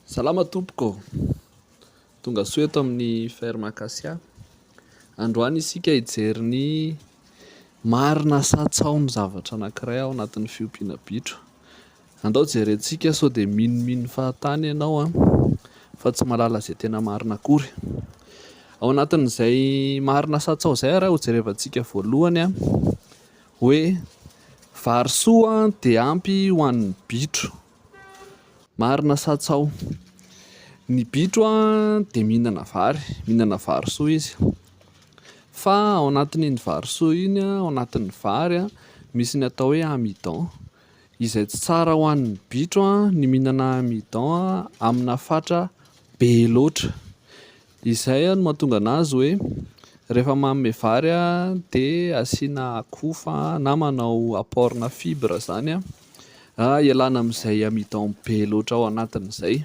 Salama tompoko ô! Tonga soa eto amin'ny Ferme Acacia. Androany isika hijery ny marina sa tsaho ny zavatra anankiray ao anatin'ny fiompiana bitro. Andao jerentsika sao dia minomino fahatany ianao an! fa tsy mahalala izay tena marina akory. Ao anatin'izay marina sa tsaho izay ary hojerevantsika voalohany an! Hoe vary soa dia ampy ho an'ny bitro. Marina sa tsaho? Ny bitro dia mihinana vary, mihinana vary soa izy. Fa ao anatin'iny vary soa iny, ao anatin'ny vary, misy ny atao hoe amidon, izay tsy tsara ho an'ny bitro ny mihinana amidon amina fatra be loatra. Izay no mahatonga anazy hoe rehefa manome vary dia asiana akoho fa na manao apport na fibre zany ialana amin'izay amidon be loatra ao anatiny izay.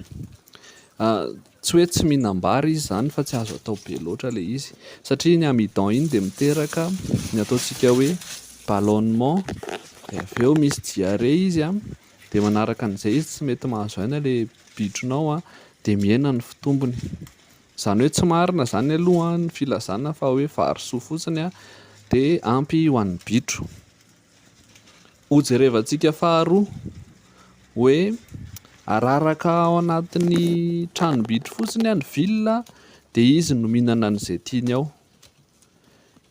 Tsy hoe tsy mihinam-bary izy zany fa tsy azo atao be loatra ilay izy satria iny amidon iny dia miteraka ny ataontsika hoe ballonnement dia avy eo misy diarrhée izy Dia manaraka an'izay izy tsy mety mahazo aina ilay bitronao an, dia mihena ny fitombony. Izany hoe tsy marina izany aloha ny filazana fa hoe vary soa fotsiny dia ampy ho an'ny bitro. Ho jerevantsika faharoa hoe araraka ao anatin'ny tranom-bitro fotsiny ny villa dia izy no mihinana an'izay tiany ao.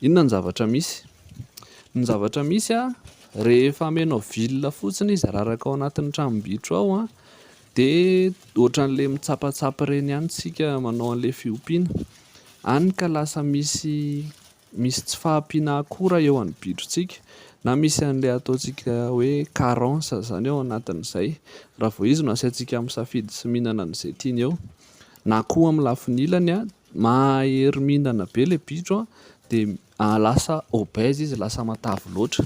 Inona ny zavatra misy? Ny zavatra misy a, rehefa amenao villa fotsiny izy araraka ao anatin'ny tranom-bitro ao a, dia ohatran'ilay mitsapatsapa ireny ihany isika manao an'ilay fiompiana, hany ka lasa misy misy tsy fahampiana akora eo amin'ny bitrontsika na misy an'ilay ataontsika hoe carence izany ao anatin'izay, raha vao izy no asiantsika misafidy sy mihinana an'izay tiany eo, na koa amin'ny lafiny ilany a Mahahery mihinana be ilay bitro an, dia lasa obèse izy, lasa matavy loatra.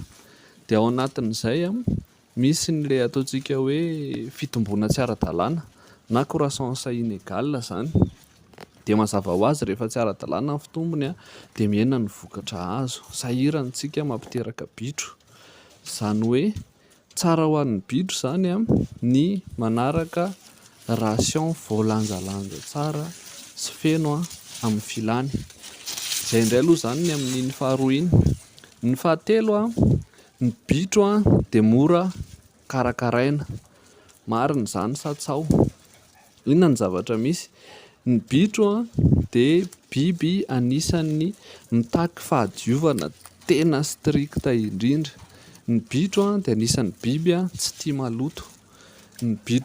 Dia ao anatin'izay an, misy ilay ataontsika hoe fitomboana tsy ara-dalàna na croissance inégale izany. Dia mazava ho azy rehefa tsy ara-dalàna ny fitombony an, dia mihena ny vokatra azo. Sahirana isika mampiteraka bitro. Izany hoe Tsara ho an'ny bitro izany ny manaraka ration voalanjalanja tsara sy feno amin'ny filany. Izay indray aloha izany ny amin'iny faharoa iny. Ny fahatelo, ny bitro dia mora karakaraina. Marina izany sa tsaho? Inona ny zavatra misy? Ny bitro dia biby anisan'ny mitaky fahadiovana tena strict indrindra. Ny bitro dia anisan'ny biby tsy tia maloto. Ny bitro.